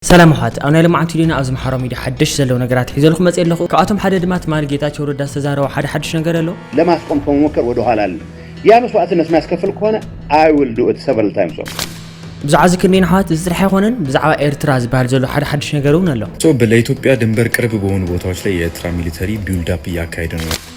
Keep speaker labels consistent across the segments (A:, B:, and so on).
A: ሰላም ኣሕዋት ኣብ ናይ ሎማዓንቲ ቪድዮና ኣብ ዝማሓሮ ሚድያ ሓደሽቲ ዘለዉ ነገራት ሒዘልኩም መፅየ ኣለኩ ካብኣቶም ሓደ ድማ ትማሊ ጌታቸው ረዳ ዝተዛረቦ ሓደ ሓዱሽ ነገር ኣሎ ለማስቆም ከመሞከር
B: ወደ ኋላ ኣልልም ያ መስዋእትነት ማያስከፍል ከሆነ ኣይ ዊል ዱ ኢት ሰቨራል ታይምስ ኦቨር። ብዛዕባ እዚ
A: ክንደይን ኣሕዋት እዚ ጥራሕ ኣይኮነን ብዛዕባ ኤርትራ ዝበሃል ዘሎ ሓደ ሓዱሽ ነገር እውን ኣሎ። ሶ ለኢትዮጵያ ድንበር
C: ቅርብ በሆኑ ቦታዎች ላይ የኤርትራ ሚሊተሪ ቢውልድ አፕ እያካሄደ ነው።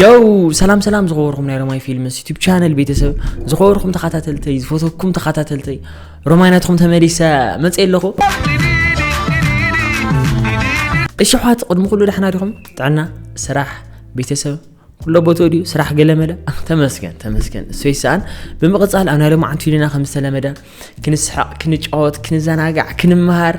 A: ዮው ሰላም ሰላም ዝኸበርኩም ናይ ሮማይ ፊልምስ ዩቱብ ቻነል ቤተሰብ ዝኸበርኩም ተኸታተልተይ ዝፈተኩም ተኸታተልተይ ሮማይ ናትኩም ተመሊሰ መፅእ ኣለኹ እሺ ኣሕዋት ቅድሚ ኩሉ ዳሕና ዲኹም ጥዕና ስራሕ ቤተሰብ ኩሎ ቦቶ ድዩ ስራሕ ገለመለ ተመስገን ተመስገን እሰይ ሰኣን ብምቕፃል ኣብ ናይ ሎሚ ዓንቱ ኢልና ከም ዝተለመደ ክንስሕቕ ክንጫወት ክንዘናጋዕ ክንመሃር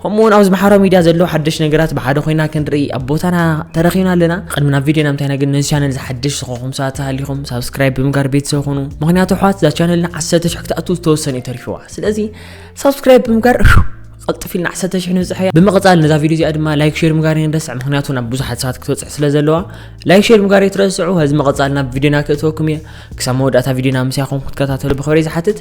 A: ከምኡ እውን ኣብዚ ማሕበራዊ ሚድያ ዘለዉ ሓደሽ ነገራት ብሓደ ኮይና ክንርኢ ኣብ ቦታና ተረኺብና ኣለና ቅድሚ ናብ ቪድዮና ምታይና ግን ነዚ ቻነል ዝሓደሽ ዝኾኹም ሰባት ተሃሊኹም ሳብስክራይብ ብምጋር ቤተሰብ ኹኑ ምክንያቱ ኣሕዋት እዛ ቻነልና ዓሰርተ ሽሕ ክትኣቱ ዝተወሰነ እዩ ተሪፍዋ ስለዚ ሳብስክራይብ ብምጋር ቀልጥፍ ኢልና ዓሰርተ ሽሕ ንብፅሐያ ብምቕፃል ነዛ ቪድዮ እዚኣ ድማ ላይክ ሼር ምጋር ንረስዕ ምክንያቱ ናብ ብዙሓት ሰባት ክትበፅሕ ስለ ዘለዋ ላይክ ሼር ምጋር የትረስዑ ህዚ መቐፃል ናብ ቪድዮና ክእትወኩም እየ ክሳብ መወዳእታ ቪድዮና ምስያኹም ክትከታተሉ ብክብሪ ዝሓትት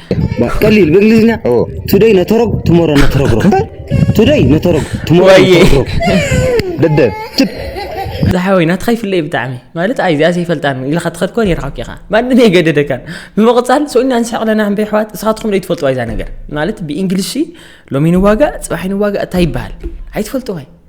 A: ቀሊል
D: ብእንግሊዝኛ ቱደይ ነተረጉ ትሞሮ ነተረጉ ቱደይ ነተረጉ ትሞሮ ነተረጉ ደደ
A: ዝሓወይ ናትኻ ይፍለይ ብጣዕሚ ማለት ኣይ እዚኣ ዘይፈልጣን ኢልካ ትኸድ ኮን ይርሓክ ኢኻ ማንም የገደደካን ብምቕፃል ሰውና ንስሕቕ ለና ሕንበ ኣሕዋት ንስኻትኩም ዶ ይትፈልጥዋ እዛ ነገር ማለት ብእንግሊሽ ሎሚ ንዋጋእ ፅባሕ ንዋጋእ እንታይ ይበሃል ኣይትፈልጥዋይ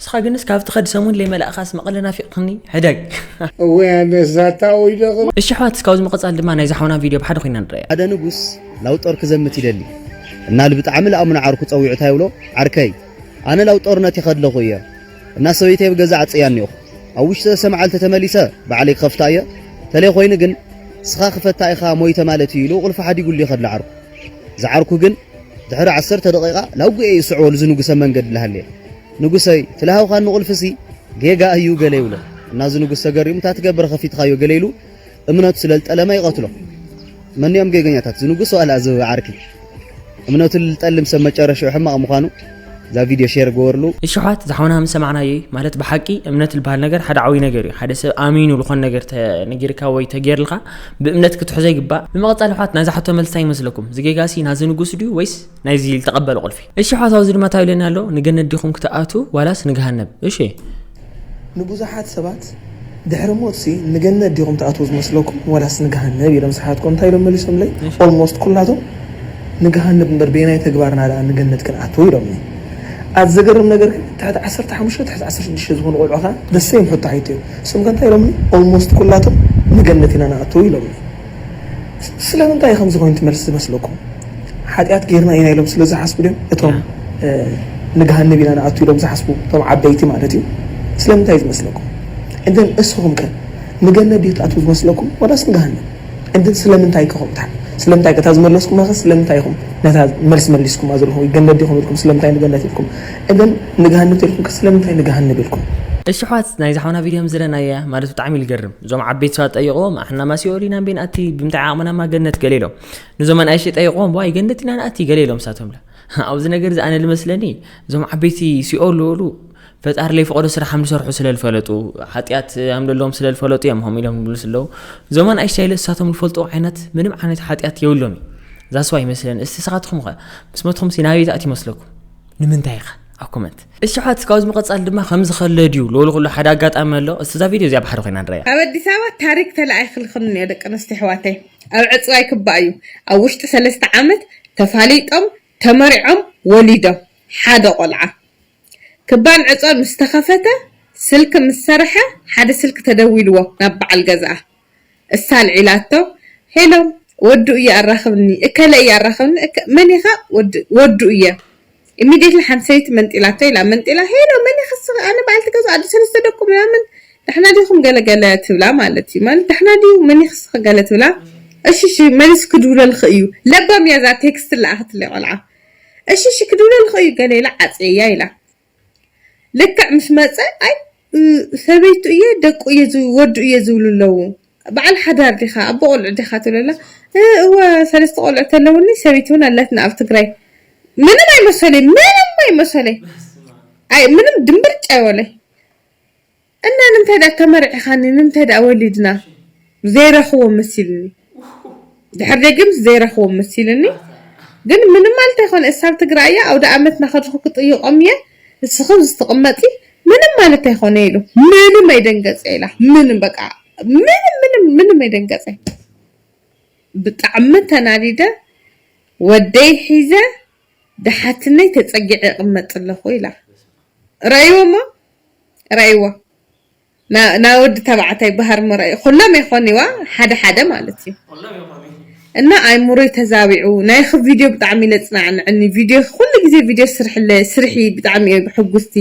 D: ንስኻ ግንስ ካብ ትኸድ ሰሙን ለይመላእኻስ መቐለ ናፊቕክኒ ሕደግ እወ ኣነ
E: ዛታ ወይ ደቕ እሺ ኣሕዋት እስካብ እዚ ምቕጻል
A: ድማ ናይዛ ሓውና ቪድዮ ብሓደ ኮይና ንረኣያ ሓደ ንጉስ
B: ላውጦር ክዘምት ይደሊ እና ልብጣዕሚ ልኣምኖ ዓርኩ ጸዊዑ እንታይ ይብሎ ዓርከይ ኣነ ላው ጦርነት ይኸድለኹ እየ እና ሰበይተይ ኣብ ገዛ ዓጽያኒ ኢኹ ኣብ ውሽጢ ሰለስተ መዓልቲ ተመሊሰ ባዕለይ ክኸፍታ እየ ተለይ ኮይኑ ግን ስኻ ክፈታ ኢኻ ሞይተ ማለት እዩ ኢሉ ቁልፊ ሓዲጉሉ ይኸድለ ዓርኩ ዝዓርኩ ግን ድሕሪ ዓሰርተ ደቂቃ ናጉኤ ይስዕቦ ንዚ ንጉሰ መንገድ ልሃልየ ንጉሰይ ትልሃውካ ንቁልፍሲ ጌጋ እዩ ገለ ይብሎ እና እዚ ንጉስ ተገሪሙ እታ ትገብረ ከፊትካዮ ገለ ኢሉ እምነቱ ስለልጠለመ ይቀትሎ መን እዮም ጌገኛታት ዝንጉስ ዋላ እዚ ዓርኪ እምነቱ ልጠልም ሰብ መጨረሻኡ ሕማቅ ምዃኑ እዛ ቪድዮ ሼር ግበርሉ። እሺ ኣሕዋት እዛ ሓውና ምስ
A: ሰማዕናዮ እዩ ማለት ብሓቂ እምነት ዝበሃል ነገር ሓደ ዓብይ ነገር እዩ ሓደ ሰብ ኣሚኑ ዝኾነ ነገር ተነጊርካ ወይ ተጌርልካ ብእምነት ክትሕዞ ይግባእ ብምቕጻል ኣሕዋት ናይዛ ሕቶ መልሲ እንታይ ይመስለኩም እዚ ጌጋሲ ናዚ ንጉስ ድዩ ወይስ ናይዚ ዝተቐበለ ቁልፊ እሺ ኣሕዋት ኣብዚ ድማ እንታይ ኢሉኒ ኣሎ ንገነት ዲኹም ክትኣትው ዋላስ ንገሃነብ እሺ
F: ንብዙሓት ሰባት ድሕሪ ሞትሲ ንገነት ዲኹም ትኣትዉ ዝመስለኩም ዋላስ ንገሃነብ ኢሎም ስሓትኩ እንታይ ኢሎም መሊሶምለይ ኦልሞስት ኩላቶም ንገሃነብ እምበር በየናይ ተግባርና ደኣ ንገነት ክንኣትው ኢሎምኒ ኣቲ ዘገርም ነገር ግን ትሕቲ ዓሰርተ ሓሙሽተ ትሕቲ ዓሰርተ ሽዱሽተ ዝኾኑ ቆልዑ ከኣ the same ሕቶ ሓይተዮም ንሶም ከ እንታይ ኢሎምኒ ኦልሞስት ኩላቶም ንገነት ኢና ንኣትው ኢሎምኒ ስለምንታይ እዩ ከምዚ ኮይኑ ትመልስ ዝመስለኩም? ሓጢኣት ጌርና ኢና ኢሎም ስለ ዝሓስቡ ድዮም? እቶም ንገሃነብ ኢና ንኣቱ ኢሎም ዝሓስቡ እቶም ዓበይቲ ማለት እዩ። ስለምንታይ እዩ ዝመስለኩም? እንተ እስኹምከ ንገነት ድዩ ትኣትዉ ዝመስለኩም ዋላስ ንገሃነም? እንተ ስለምንታይከ ከምኡ ትሓ ስለምንታይከ እታ ዝመለስኩማኸ ስለምንታይ ኢኹም ነታ መልሲ መሊስኩማ ዘለኹም ወይ ገነት ዲኹም ኢልኩም ስለምንታይ ንገነት ኢልኩም? እንተ ንገሃነም ተልኩምከ ስለምንታይ ንገሃነብ ኢልኩም? እሺ ኣሕዋት ናይዛ
A: ሓውና ቪድዮ ምስ ዝረኣናያ ማለት ብጣዕሚ እዩ ዝገርም። እዞም ዓበይቲ ሰባት ጠይቆም ኣሕና ማሲኦል ኢና ቤን ኣቲ ብምንታይ ዓቕምና ማ ገነት ገለ ኢሎም ንዞም ኣናእሽተይ ጠይቆም ዋይ ገነት ኢና ንኣቲ ገለ ኢሎም ሳቶም ኣብዚ ነገር እዚ ኣነ ልመስለኒ እዞም ዓበይቲ ሲኦል ዝበሉ ፈጣሪ ለይፈቐዶ ስራሕ ከም ዝሰርሑ ስለ ዝፈለጡ ሓጢኣት ከም ዘለዎም ስለ ዝፈለጡ እዮም ከምኡ ኢሎም ዝብልስ ኣለዉ እዞም ኣናእሽተይ ኢለ ንሳቶም ዝፈልጥዎ ዓይነት ምንም ዓይነት ሓጢኣት የብሎም እዩ ዛስዋ ይመስለኒ እስቲ ስኻትኹም ኸ ምስ መትኹም ሲ ናበይ ዝኣት ይመስለኩም ንምንታይ ኢኻ ኣብ ኮመንት እሽሓት ካብዚ ምቐጻል ድማ ከምዚ ከለ ድዩ ሎሊ ኩሉ ሓደ ኣጋጣሚ ኣሎ እስቲ እዛ ቪድዮ እዚኣ ብሓደ ኮይና ንረያ ኣብ ኣዲስ ኣበባ ታሪክ
G: ተላኢክልክን እንኦ ደቂ ኣንስትዮ ኣሕዋተይ ኣብ ዕፅዋ ይክባእ እዩ ኣብ ውሽጢ ሰለስተ ዓመት ተፋሊጦም ተመሪዖም ወሊዶም ሓደ ቆልዓ ክባን ዕፅዋን ምስ ተከፈተ ስልኪ ምስ ሰረሐ ሓደ ስልኪ ተደዊልዎ ናብ ባዓል ገዝኣ እሳ ኣልዒላቶ ሄሎ ወዱ እየ ኣራኽብኒ እከለ እየ ኣራኽብኒ እከ መን ኢኻ ወዲ ወዱ እየ ኢሚድየትሊ ሓንቲ ሰበይቲ መንጢላቶ ኢላ መንጢላ ሄሎ መን ኢኻ እሳ ኣነ በዓልቲ ገዝኡ ኣደ ሰለስተ ደቁ ምናምን ዳሕና ዲኹም ገለ ገለ ትብላ ማለት እዩ ማለት ዳሕና ድዩ መን ኢኺ እስኺ ገለ ትብላ እሺ እሺ መሊሱ ክድውለልኺ እዩ ለባም እያ እዛ ቴክስት ለኣኽትለይ ቆልዓ እሺ እሺ ክድውለልኺ እዩ ገለ ኢላ ዓፅየያ ኢላ ልክዕ ምስ መጸ ኣይ ሰበይቱ እየ ደቁ እየ ወዱ እየ ዝብሉ ኣለዉ በዓል ሓዳር ዲኻ ኣቦ ቆልዑ ዲኻ ትብሎ ኣላ እወ ሰለስተ ቆልዑ ተለውኒ ሰበይቲ ውን ኣላትና ኣብ ትግራይ ምንም ኣይመሰለይ ምንም ኣይመሰለይ ኣይ ምንም ድምብርጭ ኣይበሎይ እና ንምታይ ድኣ ተመርዒኻኒ ንምታይ ድኣ ወሊድና ዘይረኽቦ መሲልኒ ድሕር ደጊምስ ዘይረኽቦ መሲልኒ ግን ምንም ማለት ኣይኮነ እሳብ ትግራይ እያ ኣውዳኣመት ናኸድኹ ክጥይቆም እየ ንስኽን ዝትቅመጢ ምንም ማለት ኣይኮነ ኢሉ ምንም ኣይደንገፀ ኢላ ምንም በቃ ምንም ምንም ምንም ኣይደንገፀ ብጣዕሚ ተናዲደ ወደይ ሒዘ ድሓትነይ ተፀጊዐ ይቅመጥ ኣለኹ ኢላ ረእይዎሞ ረኣይዋ ና ና ወዲ ተባዕታይ ባህር መርኣዩ ኩሎም የኾኒዋ ሓደ ሓደ ማለት እዩ እና ኣይምሮይ ተዛቢዑ ናይኺ ቪድዮ ብጣዕሚ ኢለ ጽናዕንዕኒ ቪድዮኺ ኩሉ ግዜ ቪድዮ ስርሕለ ስርሒ ብጣዕሚ እየ ሕጉስቲ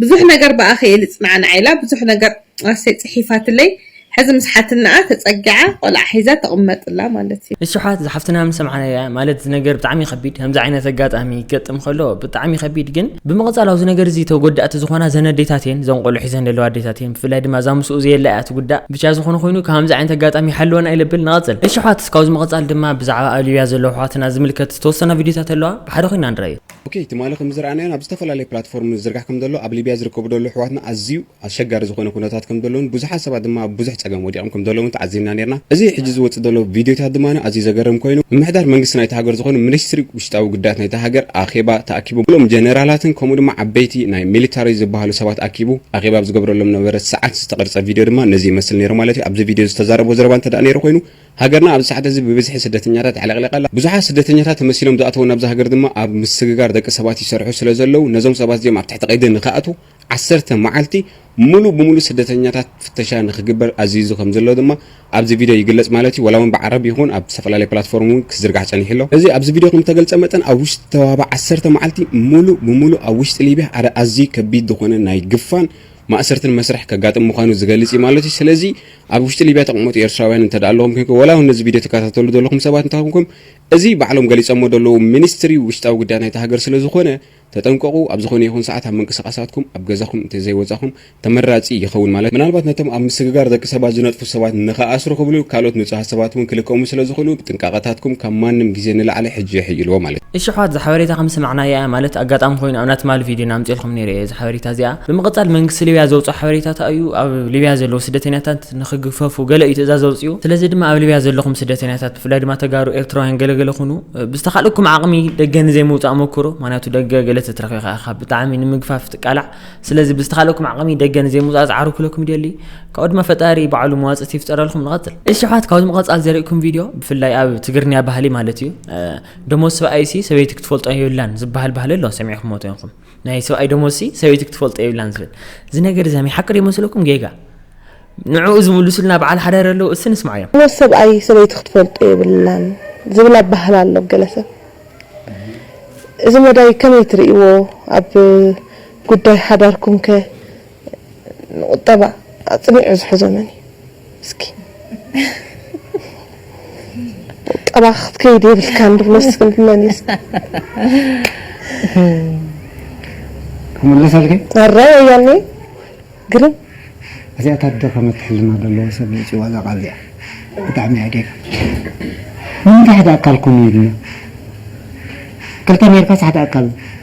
G: ብዙሕ ነገር ብኣኺ እየ ልጽናዕናዕ ኢላ ብዙሕ ነገር ኣሰይ ጽሒፋትለይ ሕዚ ምስ ሓትነኣ ተጸጊዓ ቆልዓ ሒዛ ትቅመጥ እላ ማለት እዩ። ንስሓት እዛ ሓፍትና ምስ
A: ሰምዓናያ ማለት እዚ ነገር ብጣዕሚ ከቢድ ከምዚ ዓይነት ኣጋጣሚ ክገጥም ከሎ ብጣዕሚ ከቢድ ግን ብምቅጻል ኣብዚ ነገር እዚ ተጎዳእቲ ዝኮና እዘን ኣዴታት እየን እዘን ቆልዑ ሒዘን ዘለዋ ኣዴታት እየን ብፍላይ ድማ እዛ ምስኡ ዘየላ እያ ትጉዳእ ብቻ ዝኮነ ኮይኑ ካብ ከምዚ ዓይነት ኣጋጣሚ ይሓልወና ኢለ ብል ንቀጽል እሺ ኣሕዋት ካብዚ ምቅጻል ድማ ብዛዕባ ኣብ ሊብያ ዘለዉ ኣሕዋትና ዝምልከት ዝተወሰና ቪድዮታት ኣለዋ ብሓደ ኮይና ንርኣዮ። ኦኬ ትማሊ
H: ከምዝረኣናዮን ኣብ ዝተፈላለየ ፕላትፎርም ዝዝርጋሕ ከምዘሎ ኣብ ሊብያ ዝርከቡ ደሎ ኣሕዋትና ኣዝዩ ኣሸጋሪ ዝኾነ ኩነታት ከም ዘሎን ብዙሓት ሰባት ድማ ኣብ ብዙሕ ጸገም ወዲቖም ከም ዘለዉን ተዓዚብና ኔርና። እዚ ሕጂ ዝወጽእ ዘሎ ቪድዮታት ድማ ኣዝዩ ዘገርም ኮይኑ፣ ምምሕዳር መንግስቲ ናይታ ሃገር ዝኾኑ ሚኒስትሪ ውሽጣዊ ጉዳያት ናይታ ሃገር ኣኼባ ተኣኪቡ ኩሎም ጀነራላትን ከምኡ ድማ ዓበይቲ ናይ ሚሊታሪ ዝበሃሉ ሰባት ኣኪቡ ኣኼባ ኣብ ዝገብረሎም ነበረ ሰዓት ዝተቐርጸ ቪድዮ ድማ ነዚ ይመስል ኔሩ ማለት እዩ። ኣብዚ ቪድዮ ዝተዛረቦ ዘረባ እንተ ኔሩ ኮይኑ ሃገርና ኣብዚ ሰዓት እዚ ብብዝሒ ስደተኛታት ኣዕለቕሊቓ ኣላ። ብዙሓት ስደተኛታት ተመሲሎም ዝኣተዉ ናብዛ ሃገር ድማ ኣብ ምስግጋር ደቂ ሰባት ይሰርሑ ስለ ዘለዉ ነዞም ሰባት እዚኦም ኣብ ትሕቲ ቀይዲ ንኽኣትዉ ዓሰርተ መዓልቲ ሙሉእ ብሙሉእ ስደተኛታት ፍተሻ ንክግበር ኣዚዙ ከምዘሎ ድማ ኣብዚ ቪድዮ ይግለጽ ማለት እዩ። ዋላውን ብዓረብ ይኹን ኣብ ዝተፈላለየ ፕላትፎርም እውን ክዝርጋሕ ጸኒሑ ኣሎ። እዚ ኣብዚ ቪድዮ ከምተገልጸ መጠን ኣብ ውሽጢ ተዋህባ ዓሰርተ መዓልቲ ሙሉእ ብሙሉእ ኣብ ውሽጢ ሊብያ ሓደ ኣዝዩ ከቢድ ዝኾነ ናይ ግፋን ማእሰርትን መስርሕ ከጋጥም ምዃኑ ዝገልጽ እዩ ማለት እዩ። ስለዚ ኣብ ውሽጢ ሊብያ ተቕመጡ ኤርትራውያን እንተ ኣለኹም ኮንኩም ዋላውን ነዚ ቪድዮ ትከታተሉ ዘለኹም ሰባት እንተ ኮንኩም እዚ ባዕሎም ገሊጸሞ ዘለዉ ሚኒስትሪ ውሽጣዊ ጉዳይ ናይታ ሃገር ስለዝኾነ ተጠንቀቑ፣ ኣብ ዝኾነ ይኹን ሰዓት ኣብ ምንቅስቓሳትኩም ኣብ ገዛኹም እንተዘይወጻኹም ተመራጺ ይኸውን ማለት ምናልባት ነቶም ኣብ ምስግጋር ደቂ ሰባት ዝነጥፉ ሰባት ንኽኣስሩ ክብሉ ካልኦት ንጹሃት ሰባት እውን ክልቀሙ ስለ ዝኽእሉ ጥንቃቐታትኩም ካብ ማንም ግዜ ንላዕሊ ሕጂ የሕይልዎ ማለት እዩ። እሺ ኣሕዋት እዛ ሓበሬታ ከም
A: ዝሰማዕናያ እያ ማለት ኣጋጣሚ ኮይኑ ኣብና ትማሊ ቪድዮና ኣምጺኤልኩም ነይረ እየ እዛ ሓበሬታ እዚኣ ብምቅጻል መንግስቲ ሊብያ ዘውጾ ሓበሬታታ እዩ ኣብ ሊብያ ዘለዉ ስደተኛታት ንኽግፈፉ ገለ እዩ ትእዛዝ ኣውጺኡ ስለዚ ድማ ኣብ ሊብያ ዘለኹም ስደተኛታት ብፍላይ ድማ ተጋሩ ኤርትራውያን ገለ ገለ ኩኑ ብዝተኻልኩም ዓቕሚ ደገ ንዘይምውፃእ ሞክሩ ምክንያቱ ደገ ገለ ተትረኺኻ ኢኻ ብጣዕሚ ንምግፋፍ ትቃላዕ ስለዚ ብዝተኻልኩም ዓቕሚ ደገ ንዘይምውፃእ ዝዓሩ ክለኩም ይደሊ ካብኡ ድማ ፈጣሪ ባዕሉ መዋፅእቲ ይፍጠረልኩም ንቐፅል እሺ ኣሕዋት ካብዚ ምቐፃል ዘርእኩም ቪድዮ ብፍላይ ኣብ ትግርንያ ባህሊ ማለት እዩ ደሞዝ ሰብኣይሲ ሰበይቲ ክትፈልጦ የብላን ዝበሃል ባህሊ ኣሎ ሰሚዕኹምዎ ተይንኹም ናይ ሰብኣይ ደሞዝሲ ሰበይቲ ክትፈልጦ የብላን ዝብል እዚ ነገር እዚ ሓቂ ዶ ይመስለኩም ጌጋ ንዕኡ ዝምልሱልና በዓል ሓዳር ኣለዉ እሲ ንስማዕ እዮም ደሞዝ ሰብኣይ ሰበይቲ
I: ክትፈልጦ የብላን ዝብል ኣባህላ ኣሎ ገለ ሰብ እዚ መዳይ ከመይ ትርእይዎ ኣብ ጉዳይ ሓዳርኩምከ ንቁጠባ ኣጽኒዑ ዝሕዞ መን እዩ እስኪ ቁጠባ ክትከይድ የብልካን ድብሎ እስኪ መን እዩ
E: ክምለሰልኪ ኣረ ወያኔ
I: ግርም እዚኣ
E: እታ ደኸመት ሕልና ዘለዎ ሰብ ዘውፅእዋ እዛ ቃል እዚኣ ብጣዕሚ እያ ጌጋ ንምንታይ ሓደ ኣካል ኩኑ ይብልና ክልተ ኔርካስ ሓደ ኣካል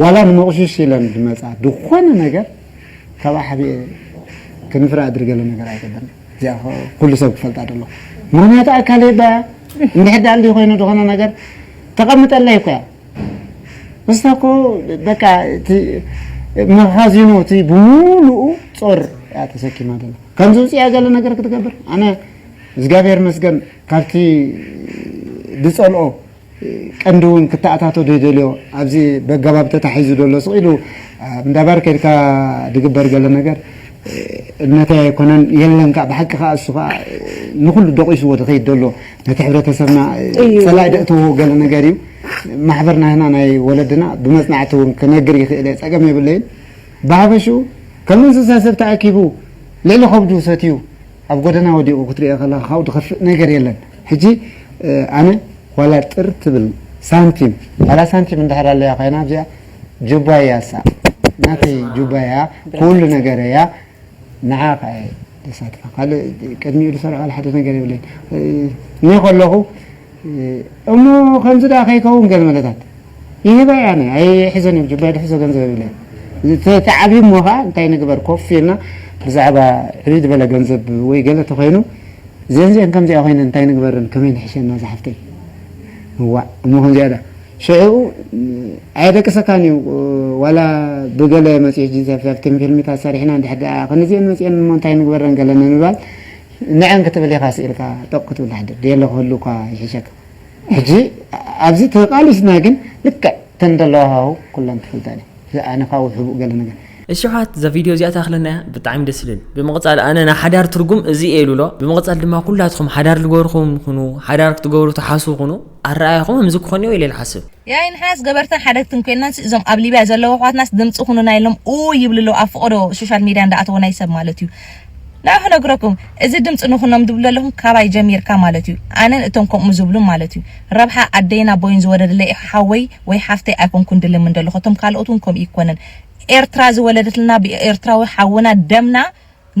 E: ዋላ ንመቑሽሽ ኢለን ድመጻ ድኾነ ነገር ካብኣ ሓቢኤ ክንፍራ እድሪ ገለ ነገር ኣይገብርን እዚኣ ኩሉ ሰብ ክፈልጣ ደለኹ ምኽንያቱ ኣካል የዳ እያ እንድሕር ደኣ እንዲህ ኮይኑ ድኾነ ነገር ተቐምጠለይ እኮ እያ ምስታ እኮ በቃ እቲ መኻዚኖ እቲ ብሙሉኡ ጾር እያ ተሰኪማ ደላ ከምዚ ውጽያ ገለ ነገር ክትገብር ኣነ እግዚኣብሔር መስገን ካብቲ ድጸልኦ ቀንዲ እውን ክተኣታቶ ዘይደልዮ ኣብዚ በገባብ ተታሒዙ ዘሎ ስቅ ኢሉ ኣብ እንዳባር ከድካ ድግበር ገለ ነገር እምነተይ ኣይኮነን የለን ከኣ ብሓቂ ከኣ እሱ ከኣ ንኩሉ ደቂስዎ ድከይድ ደሎ ነቲ ሕብረተሰብና ጸላኢ ደእተዎ ገለ ነገር እዩ ማሕበር ናህና ናይ ወለድና ብመጽናዕቲ እውን ክነግር ይክእል እየ ጸገም የብለይን ብሃፈሽኡ ከም እንስሳ ሰብ ተኣኪቡ ልዕሊ ከብዱ ሰትዩ ኣብ ጎደና ወዲቁ ክትሪኦ ከለካ ካብኡ ድከፍእ ነገር የለን ሕጂ ኣነ ዋላ ጥር ትብል ሳንቲም ዋላ ሳንቲም እንድሕር ኣለያ ኮይና ኣብዚኣ ጁባ እያ እሳ ናተይ ጁባ እያ ኩሉ ነገር እያ ንዓ ከኣ እየ ደሳትፋ ካልእ ቅድሚኡ ድሰርሖ ዋላ ሓደ ነገር የብለይን እኔ ከለኩ እሞ ከምዚ ደኣ ከይከውን ገለ መለታት ይህባ እየ ኣነ ኣይሕዘን እየ ጁባይ ድሕዞ ገንዘብ ይብለ እየ ተዓብዩ እሞ ከኣ እንታይ ንግበር ኮፍ ኢልና ብዛዕባ ዕብይ ዝበለ ገንዘብ ወይ ገለ ተኮይኑ እዘን እዚኣን ከምዚኣ ኮይነን እንታይ ንግበረን ከመይ ንሕሸና ዝሓፍተይ እዋእ እሞ ከምዚኣ ደኣ ሽዑ ኣየደቅሰካን እዩ ዋላ ብገለ መጽሔት ጂንሳፍሳፍትን ፊልምታት ሰሪሕና እንድሕር ደኣ ክንዚኤን መጽኤን እሞ እንታይ ንግበረን ገለ ንምባል ንዕን ክትብል ኢኻ ስኢልካ ጦቕ ክትብል ትሓድር ድየለ ክህሉ እኳ ይሕሸካ ሕጂ ኣብዚ ተቓሊስና ግን ልክዕ እተን ዘለዋ ሃሁ ኩለን ክፈልጣ ድየን እዚ ኣነ ካብኡ ሕቡእ ገለ ነገር እሺ ኣሕዋት እዛ
A: ቪድዮ እዚኣ ተኣኽለና እያ ብጣዕሚ ደስ ልብል ብምቕጻል ኣነ ናይ ሓዳር ትርጉም እዚ እየ ልብሎ ብምቕጻል ድማ ኩላትኹም ሓዳር ልገበርኹም ኩኑ ሓዳር ክትገብሩ ትሓስቡ ኩኑ ኣረኣእያኹም ከምዚ ክኾን እዮ ኢለ ልሓስብ ያኢ ንሕናስ ገበርትን
J: ሓደግትን ኮይናንስ እዞም ኣብ ሊብያ ዘለዉ ኣሕዋትናስ ድምጺ ኩኑና ኢሎም ኡይ ይብሉ ኣለዉ ኣብ ፍቖዶ ሶሻል ሜድያ እንዳኣተወ ናይ ሰብ ማለት እዩ ንዓ ክነግረኩም እዚ ድምፂ ንኩኖም ድብሉ ዘለኩም ካባይ ጀሚርካ ማለት እዩ ኣነን እቶም ከምኡ ዝብሉን ማለት እዩ ረብሓ ኣደይን ኣቦይን ዝወለደለይ እዩ ሓወይ ወይ ሓፍተይ ኣይኮንኩን ድልምን ደለኩ እቶም ካልኦት እውን ከምኡ ይኮነን ኤርትራ ዝወለደትልና ብኤርትራዊ ሓውና ደምና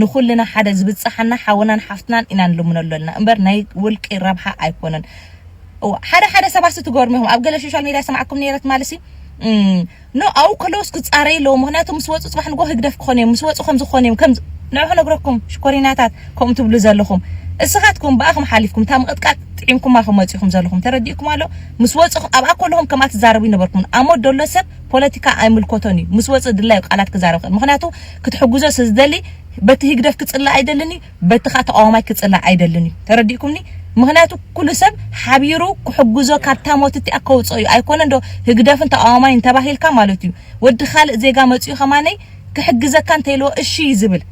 J: ንኩልና ሓደ ዝብፀሓና ሓውናን ሓፍትናን ኢና ንልምነሉ ኣለና እምበር ናይ ውልቂ ረብሓ ኣይኮነን ሓደ ሓደ ሰባት ትገርሙ ኢኩም ኣብ ገለ ሶሻል ሜድያ ሰማዕኩም ነይረ ትማሊ ሲ ን ኣብኡ ከለውስ ክጻረዩ ኣለዎም ምክንያቱ ምስ ወጹ ጽባሕ ንግሆ ህግደፍ ክኮኑ እዮም ምስ ወጹ ከምዚ ክኮኑ እዮም ከምዚ ንዑ ክነግረኩም ሽኮሪናታት ከምኡ ትብሉ ዘለኩም እስካትኩም ብኣክም ሓሊፍኩም እታ ምቅጥቃጥ ጥዒምኩማ ከም መጺኩም ዘለኩም ተረዲኡኩም ኣሎ ምስ ወጹ ኣብኣ ከለኩም ከምኣ ትዛረቡ ይነበርኩምን ኣሞት ደሎ ሰብ ፖለቲካ ኣይምልኮቶን እዩ ምስ ወጽ ድላዩ ቃላት ክዛረብ ይክእል ምክንያቱ ክትሕግዞ ስዝደሊ በቲ ህግደፍ ክጽላእ ኣይደልን እዩ በቲ ከኣ ተቃዋማይ ክጽላእ ኣይደልን እዩ ተረዲእኩምኒ ምክንያቱ ኩሉ ሰብ ሓቢሩ ክሕግዞ ካብታ ሞት እቲኣ ከውጽኦ እዩ ኣይኮነን ዶ ህግደፍን ተቃዋማይን ተባሂልካ ማለት እዩ ወዲ ካልእ ዜጋ መጽዩ ከማነይ ክሕግዘካ እንተኢልዎ እሺ እዩ ዝብል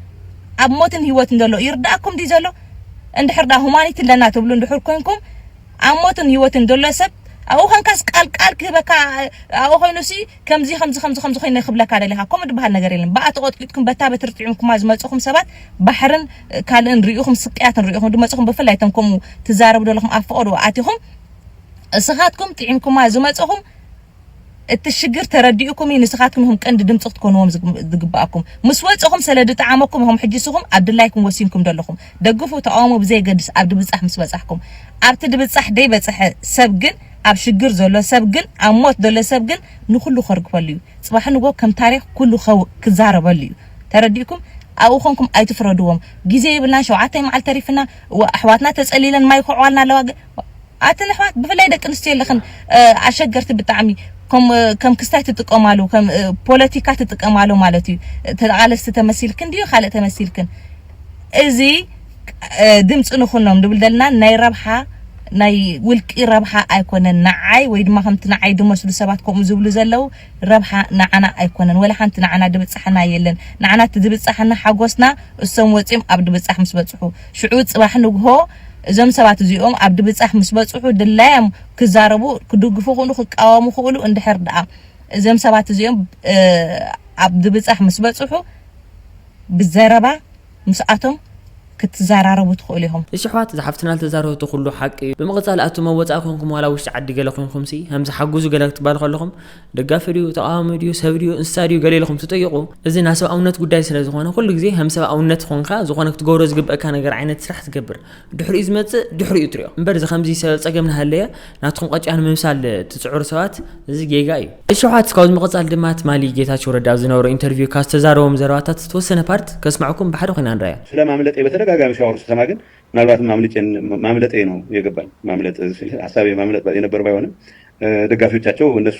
J: ኣብ ሞትን ሂወትን ዘሎ ይርድኣኩም ድዩ ዘሎ እንድሕር ደኣ ሁማኒቲ ኣለና ትብሉ እንድሕር ኮንኩም ኣብ ሞትን ሂወትን ዘሎ ሰብ ኣብኡ ኮንካስ ቃል ቃል ክህበካ ኣብኡ ኮይኑ ሲ ከምዚ ከምዚ ከምዚ ከምዚ ኮይነ ክብለካ ደልየ ካብ ከምኡ ድበሃል ነገር የለን ብኣ ተቆጥቂጥኩም በታ በትሪ ጢዒምኩማ ዝመጸኹም ሰባት ባሕርን ካልእን ሪኢኹም ስቅያትን ሪኢኹም ድመጸኹም ብፍላይ እቶም ከምኡ ትዛረቡ ደለኹም ኣብ ፈቆዶ ኣቲኹም እስኻትኩም ጢዒምኩማ ዝመጸኹም እቲ ሽግር ተረዲኡኩም እዩ ንስኻትኩም ኢኹም ቀንዲ ድምፂ ክትኮንዎም ዝግባኣኩም ምስ ወፀኹም ስለ ድጠዓመኩም ኢኹም ሕጂ ስኹም ኣብ ድላይኩም ወሲንኩም ደለኹም ደግፉ ተቃወሙ ብዘየገድስ ኣብ ድብፃሕ ምስ በፃሕኩም ኣብቲ ድብፃሕ ደይበፀሐ ሰብ ግን ኣብ ሽግር ዘሎ ሰብ ግን ኣብ ሞት ዘሎ ሰብ ግን ንኩሉ ከርግፈሉ እዩ ጽባሕ ንግሆ ከም ታሪኽ ኩሉ ክዛረበሉ እዩ ተረዲእኩም ኣብኡ ኮንኩም ኣይትፍረድዎም ግዜ የብልናን ሸውዓታይ መዓልቲ ተሪፍና እዋእ ኣሕዋትና ተጸሊለን ማይ ይኩዕዋልና ኣለዋ ግን ኣትን ኣሕዋት ብፍላይ ደቂ ኣንስትዮ ኣለኽን ኣሸገርቲ ብጣዕሚ ከም ክስታይ ትጥቀማሉ ከም ፖለቲካ ትጥቀማሉ ማለት እዩ ተቓለስቲ ተመሲልክን ድዩ ካልእ ተመሲልክን እዚ ድምፂ ንኹኖም ድብል ደልና ናይ ረብሓ ናይ ውልቂ ረብሓ ኣይኮነን ንዓይ ወይ ድማ ከምቲ ንዓይ ድመስሉ ሰባት ከምኡ ዝብሉ ዘለው ረብሓ ንዓና ኣይኮነን ወላ ሓንቲ ንዓና ድብፃሓና የለን ንዓና እቲ ድብፃሓና ሓጎስና እሶም ወፂኦም ኣብ ድብፃሕ ምስ በፅሑ ሽዑ ፅባሕ ንግሆ እዞም ሰባት እዚኦም ኣብ ድብጻሕ ምስ በጽሑ ድላዮም ክዛረቡ ክድግፉ ክእሉ ክቃወሙ ክእሉ እንድሕር ደኣ እዞም ሰባት እዚኦም ኣብ ድብጻሕ ምስ በጽሑ ብዘረባ ምስኣቶም ክትዛራረቡ ትኽእሉ ኢኹም። እሺ ኣሕዋት እዛ ሓፍትና
A: ዝተዛረበቶ ኩሉ ሓቂ እዩ ብምቅጻል ኣቱም ኣብ ወጻኢ ኮንኩም ዋላ ኣብ ውሽጢ ዓዲ ገለ ኮንኩምሲ ከምዚ ሓጉዙ ገለ ክትባሉ ከለኹም ደጋፊ ድዩ ተቃዋሚ ድዩ ሰብ ድዩ እንስሳ ድዩ ገለ ኢልኹም ትጥይቁ እዚ ናሰብኣውነት ጉዳይ ስለዝኾነ ኩሉ ግዜ ከምሰብኣውነት ኾንካ ዝኾነ ክትገብሮ ዝግበእካ ነገር ዓይነት ስራሕ ትገብር ድሕሪኡ ዝመጽእ ድሕሪኡ ትሪኦ እምበር እዚ ከምዚ ሰበብ ጸገም ናሃለየ ናትኩም ቐጭያ ንምምሳል ትጽዕሩ ሰባት እዚ ጌጋ እዩ። እሺ ኣሕዋት ካብዚ ምቅጻል ድማ ትማሊ ጌታቸው ረዳ ኣብ ዝነበሮ ኢንተርቪው ካብ ዝተዛረቦም ዘረባታት ዝተወሰነ ፓርት ከስመዐኩም ብሓደ ኮይና ንረኣያ። ስለ ማምለጤ በተደጋጋሚ
K: ሻወር ስሰማ ግን ምናልባትም ኣምልጬን ማምለጤ ነው የገባኝ ማምለጥ ስል ሀሳቤ ማምለጥ የነበር ባይሆንም ደጋፊዎቻቸው እነሱ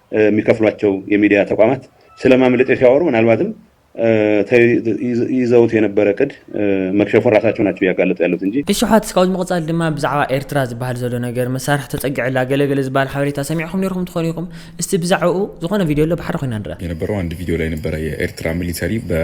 K: የሚከፍሏቸው የሚዲያ ተቋማት ስለማምለጥ ሲያወሩ ምናልባትም ይዘውት የነበረ ቅድ መክሸፉን ራሳቸው ናቸው እያጋለጡ ያሉት እንጂ። እሺ ዮሓትስ ካብዚ ምቕጻል
A: ድማ ብዛዕባ ኤርትራ ዝበሃል ዘሎ ነገር መሳርሒ ተጸጊዕላ ገለ ገለ ዝበሃል ሓበሬታ ሰሚዕኩም ኔርኩም ትኾኑ ኢኹም እስቲ ብዛዕብኡ ዝኾነ ቪድዮ ኣሎ ብሓደ ኮይና ንርኣ። የነበረው አንድ ቪዲዮ ላይ ነበረ
C: የኤርትራ ሚሊተሪ በ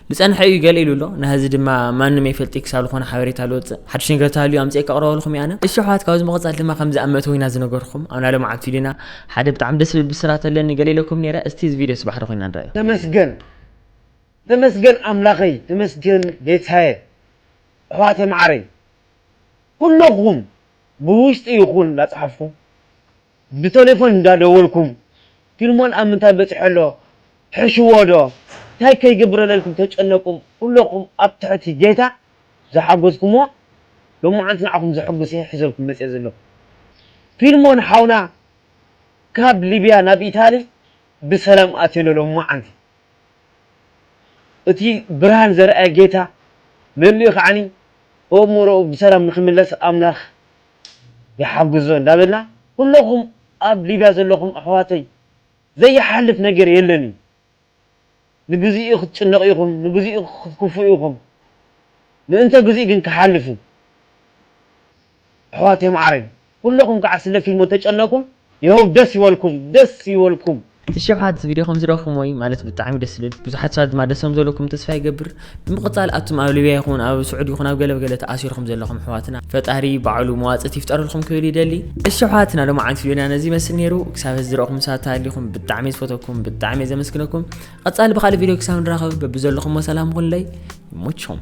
A: ዝጸንሐ እዩ ገለ ኢሉ ኣሎ ናህዚ ድማ ማንም ኣይፈልጥይ ክሳብ ልኾነ ሓበሬታ ልወጽእ ሓዱሽ ነገር ተሃልዩ ኣምጺኤ ከቕርበልኹም እየ ኣነ እሺ ኣሕዋት ካብዚ ምቕጻል ድማ ከምዚ ኣብ መእተዊ ኢና ዝነገርኹም ኣብና ለማዓልቱ ኢልና ሓደ ብጣዕሚ ደስ ዝብል ብስራት ኣለኒ ገለ ኢለኩም ነይረ እስቲ እዚ ቪድዮስ ባሕሪ ኮይና ንርኣዮ። ተመስገን
E: ተመስገን ኣምላኸይ ተመስገን ጌታየ ኣሕዋተይ ማዓረይ ኩሎኹም ብውሽጢ ይኹን ላጽሓፍኩም። ብተሌፎን እንዳ ደወልኩም ፊልሞን ኣብ ምንታይ በጺሑ ኣሎ ሕሽዎ ዶ ታይ ከይገብረለልኩም ተጨነቁ ኩሎኩም ኣብ ትሕቲ ጌታ ዝሓጎዝኩሞ ሎማዓንቲ ንዓኩም ዘሕጉስ እየ ሒዘልኩም መጽየ ዘለኩ ፊልሞን ሓውና ካብ ሊብያ ናብ ኢታሊ ብሰላም ኣትዮ ኣሎ ሎማዓንቲ እቲ ብርሃን ዘርኣየ ጌታ መሊኡ ከዓኒ ኦእሙሮኡ ብሰላም ንክምለስ ኣምላክ ይሓግዞ እንዳበልና ኩሎኹም ኣብ ሊብያ ዘለኹም ኣሕዋተይ ዘይሓልፍ ነገር የለን እዩ ንግዚኡ ክትጭነቁ ኢኹም ንግዚኡ ክትኩፍኡ ኢኹም ምእንተ ግዚኡ ግን ክሓልፍ እዩ ኣሕዋተይ ማዓረይ ኩሎኹም ካዓ ስለ ፊልሞ ተጨነቁም የሆብ ደስ ይበልኩም ደስ ይበልኩም። እቲ ሸውሓት እዚ ቪድዮ
A: ከምዝረእኹሞ እዩ ማለት ብጣዕሚ ደስ ዝብል ብዙሓት ሰባት ድማ ደስ ከምዘለኩም ተስፋ ይገብር ብምቕጻል ኣቱም ኣብ ሊብያ ይኹን ኣብ ስዑድ ይኹን ኣብ ገለ ገለ ተኣሲርኩም ዘለኹም ኣሕዋትና ፈጣሪ ባዕሉ መዋጽእቲ ይፍጠረልኩም ክብል ይደሊ እሺ ኣሕዋትና ሎማዓንቲ ቪድዮና ነዚ ይመስል ነይሩ ክሳብ ሕዚ ዝረእኹም ሰባት ተሃሊኹም ብጣዕሚ እየ ዝፈተኩም ብጣዕሚ እየ ዘመስግነኩም ቐጻሊ ብኻልእ ቪድዮ ክሳብ ንራኸብ በብዘለኹሞ ሰላም ኩንለይ ይሞችኹም